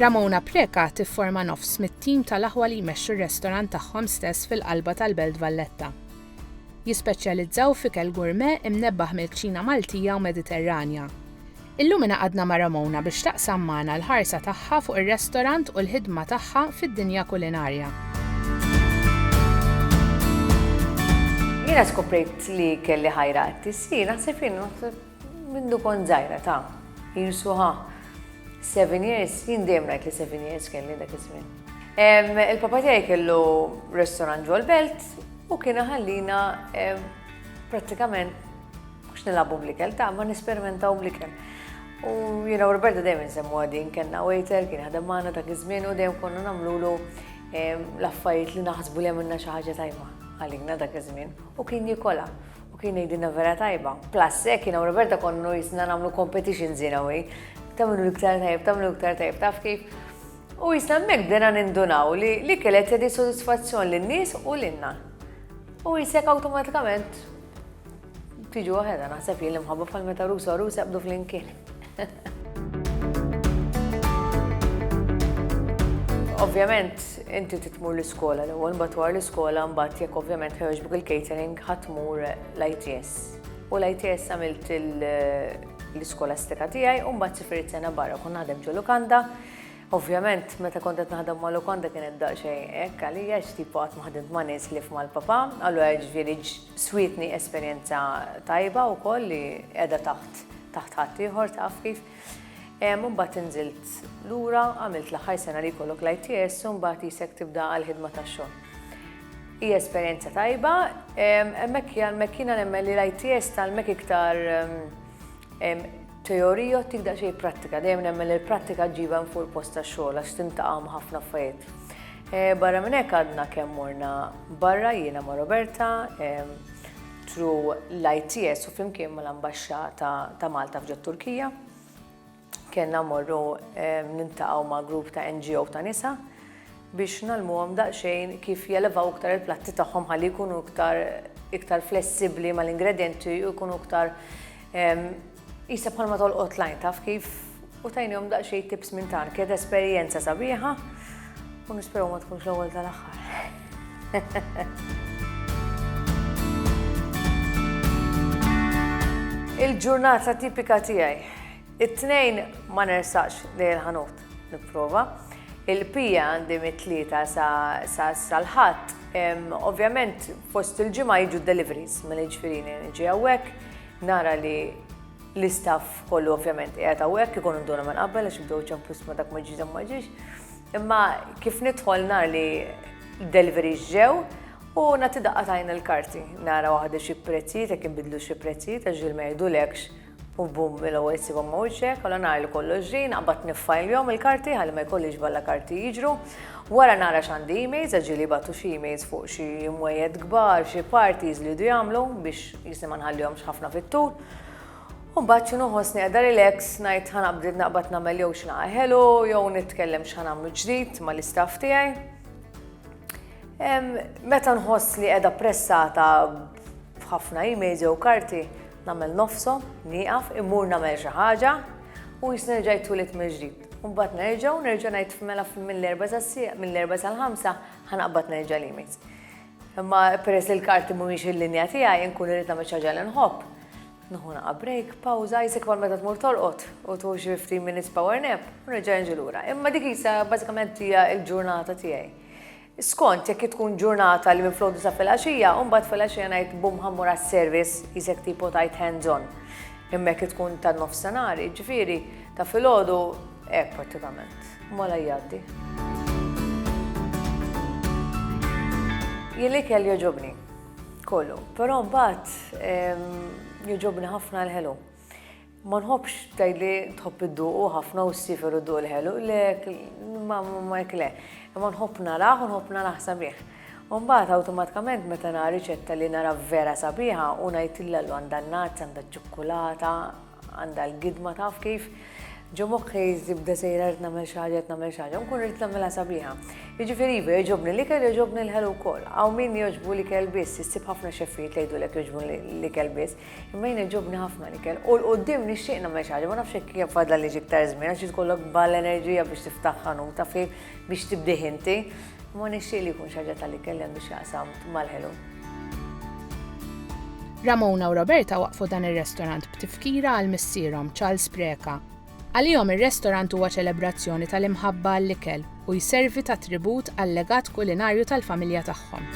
Ramona Preca tifforma nofs mit-tim tal-aħwa li jmexxu r-restorant tagħhom stess fil-qalba tal-Belt Valletta. Jispeċjalizzaw f'ikel gourmet imnebbaħ mill-kċina Maltija u Mediterranja. Illumina għadna ma' Ramona biex taqsam magħna l-ħarsa tagħha fuq ir-restorant u l-ħidma tagħha fid-dinja kulinarja. Jiena skoprejt li kelli ħajra għat-tisjir, naħseb jien mindu kont żgħira ta' jirsu ħa. Seven years, jien dejjem ngħid li seven years kelli dak iż-żmien. Il-papa tiegħi kellu restaurant ġol belt u kien ħallina prattikament Mhux nilagħbu bl-ikel, ta' ma nesperimentaw bl-ikel. U jiena u Roberta dejjem insemmu għadin, kellna waiter, kien ħadem magħna dak iż-żmien u dejjem konna nagħmlulu ehm, l-affarijiet li naħsbu li għamilna xi ħaġa tajba għalina dak iż-żmien u kien jikola u kien jgħidilna vera tajba. Plus, hekk jiena u Roberta konnu jisna nagħmlu competitions jiena u tagħmlu l-iktar tajb, tagħmlu l-iktar tajb, taf kif. U jisna mek bdena nindunaw li li kellet tedi soddisfazzjon lin-nies u l-inna. U jisek awtomatikament Tiġu waħedha naħseb li l-imħabba bħal meta rusa u rusa jaqbdu flimkien. Ovvjament, inti titmur l-iskola l ewwel mbagħad war l-iskola mbagħad jekk ovvjament ħewġbuk il-catering ħatmur l-ITS. U l-ITS għamilt l-iskolastika tiegħi u mbagħad sifirit sena barra kun naħdem ġo Lukanda. Ovvjament, meta kont qed naħdem ma' Lukanda kienet daqsxejn hekk għalija x'tipu qatt ma ħdimt ma' nies li f'mal-papa, allura ġifieri Swietni esperjenza tajba wkoll li qiegħda taħt taħt ħaddieħor taf kif. Imbagħad inżilt lura, għamilt l-aħħar sena li jkollok l-ITS u mbagħad jisek tibda għall-ħidma tax-xogħol. Hi esperjenza tajba, hemmhekk hemmhekk jiena nemmen li l-ITS tgħallmek iktar Teorija ttik daqsxejn prattika, dejjem nemmen li l-prattika ġġibha minn fuq il-post tax-xogħol għax tintaqa' ma' ħafna affarijiet. Eh, barra minn hekk għadna kemm morna barra jiena ma' Roberta, tru l-ITS u flimkien ma' l-ambaxxa ta' Malta f'ġod Turkija. Kenna morru nintaqgħu ma' grupp ta' NGO ta' nisa biex ngħallmuhom daqsxejn kif jelevaw iktar il-platti tagħhom ħalli jkunu iktar iktar flessibbli mal-ingredjenti u jkunu iktar qisha bħalma tolqot lajn taf kif u tajnihom daqsxejn tips minn tan. Kienet esperjenza sabiħa u nisperaw ma tkunx l-ewwel tal-aħħar. Il-ġurnata tipika tiegħi. It-tnejn ma nersaqx lejn il-ħanut. Nipprova. Il-pija għandi mit-Tlieta sa l-Ħadd. Ovvjament fost il-ġimgħa jiġu d-deliveries, mela jiġifieri niġi hawnhekk, nara li l-istaff kollu ovvjament qiegħed hawnhekk, ikunu nduna minn qabel għax ibdew ċemplu sma dak ma ġiex dak ma ġiex. Imma kif nidħol nara li d-deliveries ġew u nagħti daqqa tajn il-karti, nara waħda xi prezzijiet jekk inbidlu xi prezzijiet għax ġil ma jgħidulekx U bum, mill-ewwel issibhom ma' wiċċek, għala ngħajlu kollox ġie, naqbad niffajljhom il-karti ħalli ma jkollix balla karti jiġru. Wara nara x'għandi emails, għax ġieli jbagħtu xi emails fuq xi mwejjed kbar, xi parties li jdu jagħmlu biex jisni ma nħallihomx ħafna fit-tul. U mbagħad xi noħossni qiegħda relax, ngħid ħa naqbdid naqbad nagħmel jew xi ħelu jew nitkellem x'ħa nagħmlu ġdid mal-istaff tiegħi. Meta nħoss li qiegħda pressata F'ħafna emails jew karti nagħmel nofshom, nieqaf, immur nagħmel xi ħaġa u jisni nerġa' jitwieled mill-ġdid. Mbagħad nerġa' u nerġa' ngħid mela mill-erba' sas-sieq, mill-erba' sal-ħamsa ħanaqbad nerġa' l-emails. Imma peress li l-karti mhumiex il-linja tiegħi inkun irid nagħmel xi ħaġa li nħobb. Nuħu naqa' break, pawża, jisek bħal meta tmur tolqot u tuħu xi 15 minutes power nap u nerġa' nġi lura. Imma dik isa bażikament hija l-ġurnata tiegħi. Skont jekk tkun ġurnata li minflok disa' filgħaxija u mbagħad filgħaxija ngħid bum ħa mmur għas-service, qisek tipo tgħid hands on. Imma jekk tkun tan-nofsinhar, jiġifieri ta' filgħodu, hekk prattikament. Mola jgħaddi. Jien l-ikel jogħġobni. Kollu. Però mbagħad jogħġobni ħafna l-ħelu. Ma nħobbx tgħidli tħobb idduqu ħafna u ssifer u dduq il-ħelu, le ma hekk le. Imma nħobb narah u nħobb narah sabiħ. U mbagħad awtomatikament meta nara riċetta li nara vera sabiħa u ngħidilha llu għandha n-nats, għandha ċ-ċukkulata, għandha l-gidma taf kif. Ġo moħħi żibda sejra rrid nagħmel xi ħaġa, nagħmel xi ħaġa, nkun rrid nagħmilha sabiħa. Jiġifieri iva jogħġobni l-ikel jogħġobni l-ħelu wkoll. Hawn min jogħġbu l-ikel biss, issib ħafna xeffijiet li jgħidulek jogħġbu l-ikel biss. Imma jina ġobni ħafna l-ikel. U l-qoddim nixtieq nagħmel xi ħaġa, ma nafx hekk kif fadla li iktar żmien għax tkollok bal enerġija biex tiftaħ ħanuta fi biex tibdih inti. Ma nixtieq li jkun xi ħaġa tal-ikel li għandu x'jaqsam mal-ħelu. Ramona u Roberta waqqfu dan ir-restorant b'tifkira għal missierhom, Charles Preca. Għalihom ir-restorant huwa ċelebrazzjoni tal-imħabba għall-ikel u jservi ta' tribut għal-legat kulinarju tal-familja tagħhom.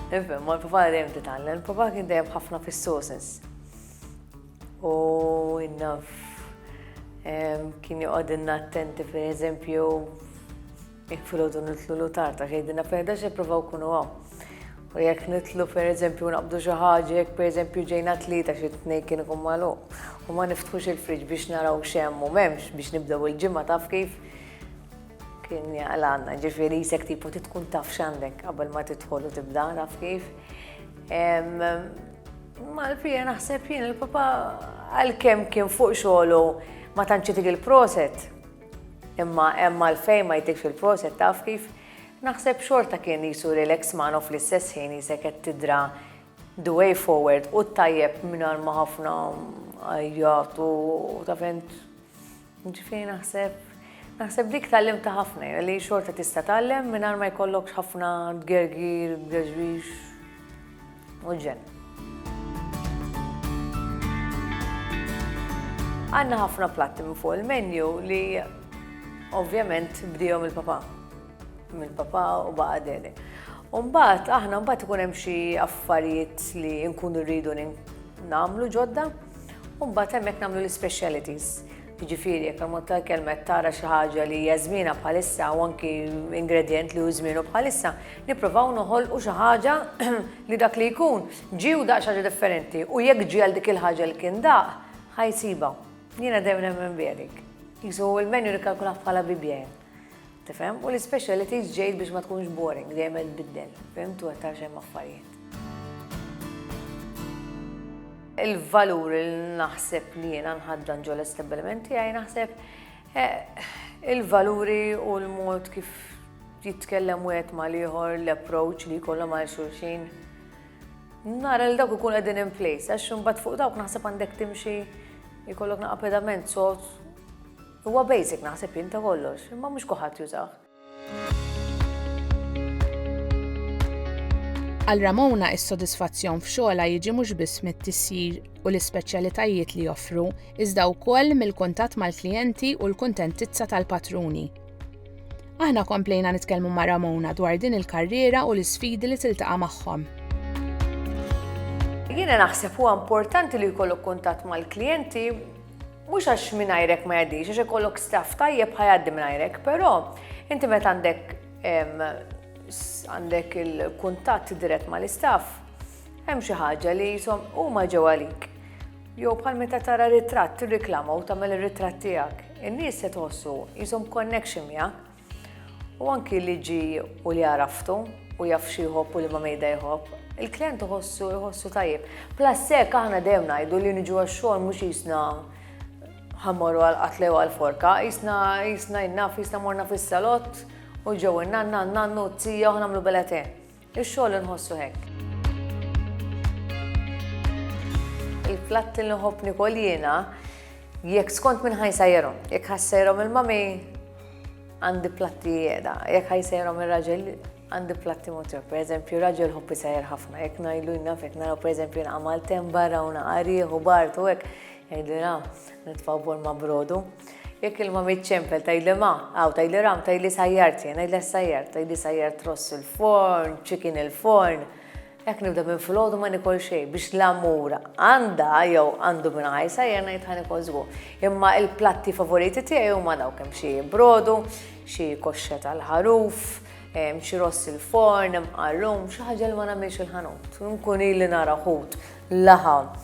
Naf imma l-papa dejjem titgħallem. Papa kien dejjem ħafna fis-sauces. U naf kien joqgħodilna attenti pereżempju Jekk filgħodu nitlu l-utar ta' xejdina fejn dax ippruvaw kunu hawn. U jekk nitlu pereżempju naqbdu xi ħaġa, jekk pereżempju ġejna tlieta xi tnejn kien ikun magħluq. U ma niftħux il-friġ biex naraw x'hemm u m'hemmx biex nibdew il-ġimgħa taf kif kien jaqlanna, ġifieri jisek tipu titkun taf x'għandek qabel ma tidħol u tibda taf kif. Mal-fija naħseb jien il-papa għalkemm kien fuq xogħlu ma tantx itik il-proset. Imma hemm għalfejn ma jgħidlikx il-proset taf kif? Naħseb xorta kien qisu li l-eks man u fl-istess ħin qisek qed tidra the way forward u t-tajjeb mingħajr ma ħafna għajjat u taf int ġifieri naħseb naħseb dik tgħallimtha ħafna jien li xorta tista' tgħallem mingħajr ma jkollokx ħafna tgergir, tgerġrix. u l-ġenn. Għanna ħafna platti minn fuq il-menu li ovvjament bdijom il-papa. Mill-papa u baqa deli. Umbat, aħna mbagħad ikun hemm xi affarijiet li nkunu rridu nagħmlu ġodda, mbagħad hemmhekk nagħmlu l-specialities. Jiġifieri jekk ammont ta' ikel mett tara xi ħaġa li hija żmienha bħalissa u anki ingredjent li hu żmienu bħalissa, nipprovaw noħolqu xi ħaġa li dak li jkun ġie u daq xi ħaġa differenti u jekk ġie għal dik il-ħaġa li kien daq, ħa jsibha. Jiena dejjem nemmen b'hekk. Qisu l-menu nikkalkulah bħala bibja jien. Tifhem? U l-ispecialities ġejt biex ma tkunx boring, dejjem qed tbiddel. Fhimt? U qed tara x'hemm affarijiet. Il-valur li naħseb li jiena nħaddan ġol estabbiliment tiegħi naħseb eh, il-valuri u l-mod kif jitkellem wieħed mal-ieħor, l-approach li jkollhom għal xulxin. Nara li dawk ikun qegħdin in place, għax imbagħad fuq dawk naħseb għandek timxi jkollok naqa' pedament sod Huwa basic naħseb jien ta' kollox, imma mhux kulħadd jużah. Għal Ramona is-sodisfazzjon f'xogħolha jiġi mhux biss mit-tisjir u l-ispeċjalitajiet li joffru, iżda wkoll mill-kuntatt mal-klijenti u l-kuntentizza tal-patruni. Aħna komplejna nitkellmu ma' Ramona dwar din il-karriera u l-isfidi li tiltaqa' magħhom. Jiena naħseb huwa importanti li jkollok kuntatt mal-klijenti Mhux għax mingħajrek ma jgħaddix, għax ikollok staff tajjeb ħajgħaddi mingħajrek, però inti meta għandek għandek il-kuntatt dirett mal-istaff, hemm xi ħaġa li jisom huma ġew għalik. Jew bħal meta tara ritratt tirriklama u tagħmel ir-ritratt tiegħek. In-nies se tħossu jisom connection miegħek. u anki li ġi u li għaraftu u jaf xi jħobb u liema mejda jħobb, il-klient iħossu iħossu tajjeb. Plus hekk aħna dejjem ngħidu li niġu għax-xogħol mhux jisna ħammorru għal qatla jew għal forka, jisna jisna jnaf jisna morna fis-salott u ġew in-nanna, n-nannu, t-tija u ħnamlu belete. Ix-xogħol inħossu hekk. Il-platt li nħobb nikol jiena jekk skont minn ħajsajrhom, jekk ħassajrhom il-mami għandi platti jeda, jekk ħajsajrhom ir-raġel għandi platti motor, per eżempju, raġel hoppi sajr ħafna, jekk najlu jnaf, jekk naraw per eżempju naqamal tem barra u naqariħ u bartu, jekk jgħidu Nitfgħu bol ma' brodu. Jekk ilma miċ-ċempel tgħidli ma, aw tgħidli ram, tgħidli sajjart jien, ngħidlha s-sajjart, tgħidli sajjart ross il-forn, chicken il-forn. Jekk nibda minn filgħodu ma nikol xejn biex l-amur għandha jew għandu minn ħaj sajjar ngħid ħa nikol żgur. Imma il-platti favoriti tiegħi huma dawk hemm xi brodu, xi koxxa tal-ħaruf, xi ross il-forn, imqarrum, xi ħaġa li ma nagħmilx il-ħanut. Nkun ili nara ħut laħam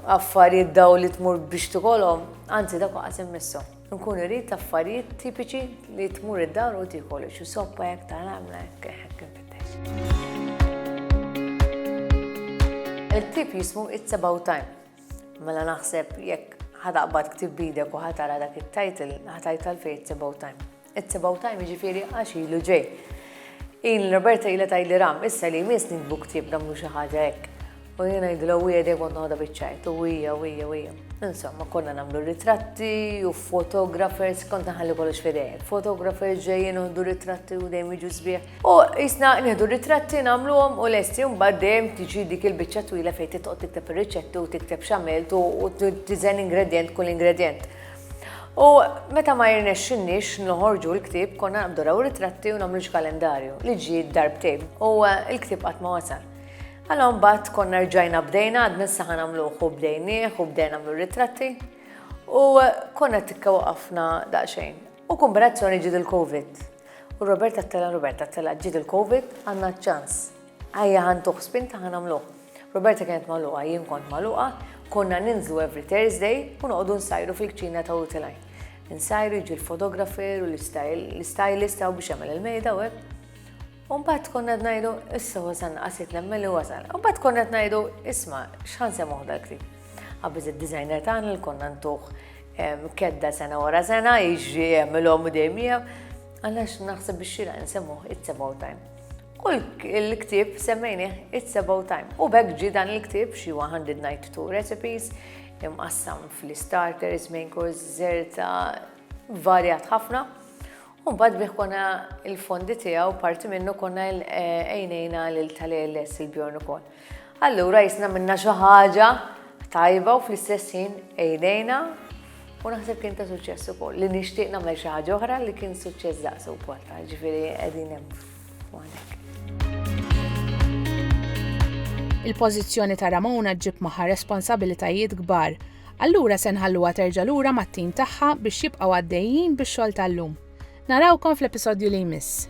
affarijiet daw li tmur biex tikolhom, anzi dak waqas immissu. Nkun irrid affarijiet tipiċi li tmur id-dar u tikol, xi soppa jekk tal-għamla jekk hekk infittex. Il-ktib jismu It's About Time. Mela naħseb jekk ħataqbad ktib bidek u ħatara dak it-title, ħatajt għalfej It's About Time. It's about time jiġifieri għax ilu ġej. Il Roberta ilha tgħidli ram, issa li jmiss nikbu ktieb nagħmlu xi ħaġa hekk. U jien ngħidilha u hija kont noħodha biċ-ċajt u hija u hija u hija. Insomma, konna nagħmlu ritratti u photographers, kont naħalli kollox fidejek. Photographers ġejjin uħdu ritratti u dejjem jiġu sbieħ. U jisna nieħdu ritratti nagħmluhom u lesti mbagħad dejjem tiġi dik il-biċċa twila fejn titqgħod tikteb ir-riċetti u tikteb x'għamilt u tiżen ingredjent kull ingredjent. U meta ma jirnexxinniex noħorġu l-ktieb konna naqbdu raw ritratti u nagħmlu kalendarju li ġi darbtejn u eh, l-ktieb qatt ma wasal. Għalla mbagħad konna rġajna bdejna għad minn saħan għamluħ u bdejnieh u bdejna għamlu ritratti u eh, konna tikka waqafna daqsxejn. U kombinazzjoni ġid il-Covid. U Roberta tella Roberta tella ġid il-Covid għandna ċans Ajja ħa ntuh spinta ħa nagħmluh. Roberta kienet magħluqa, jien kont magħluqa, konna ninżlu every Thursday u noqogħdu nsajru fil-kċina ta' Utilajn. Insajru jiġi l-fotografer u l-stylist taw biex jagħmel il-mejda u hekk. Umbat konna t-najdu, issa wasan għasit nemmen li wasan. Umbat konna t-najdu, isma, xħan se moħda ktib. Għabbiz il-designer tan li konna ntuħ kedda sena wara sena, iġri jemmilom u dejjem Għallax naħseb biex xira nsemmuħ it's about time. U l-ktib semmejnih It's About Time. U bekk ġi dan il-ktib xi 192 recipes imqassam fl-starters, main course, zerta, varjat ħafna. U bad bih konna il-fondi tiegħu parti minnu konna għajnejna eh, lil tal-ALS il-Bjorn ukoll. Allura jisna minna xi ħaġa tajba u fl-istess ħin għajnejna u naħseb kien ta' suċċess ukoll li nixtieq nagħmel xi ħaġa oħra li kien suċċess daqsu wkoll ta' ġifieri qegħdin hemm. Il-pożizzjoni ta' Ramona ġġib magħha responsabilitajiet kbar. Allura se nħalluha terġa' lura mat-tim tagħha biex jibqgħu għaddejjin bix-xogħol tal-lum. Narawkom fl-episodju li jmiss.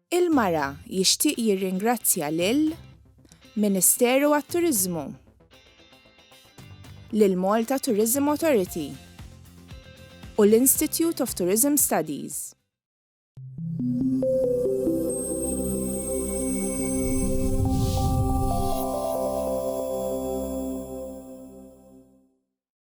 Il-Mara jixtieq jirringrazzja lil Ministeru għat-Turiżmu, lill-Malta Tourism Authority u l-Institute of Tourism Studies.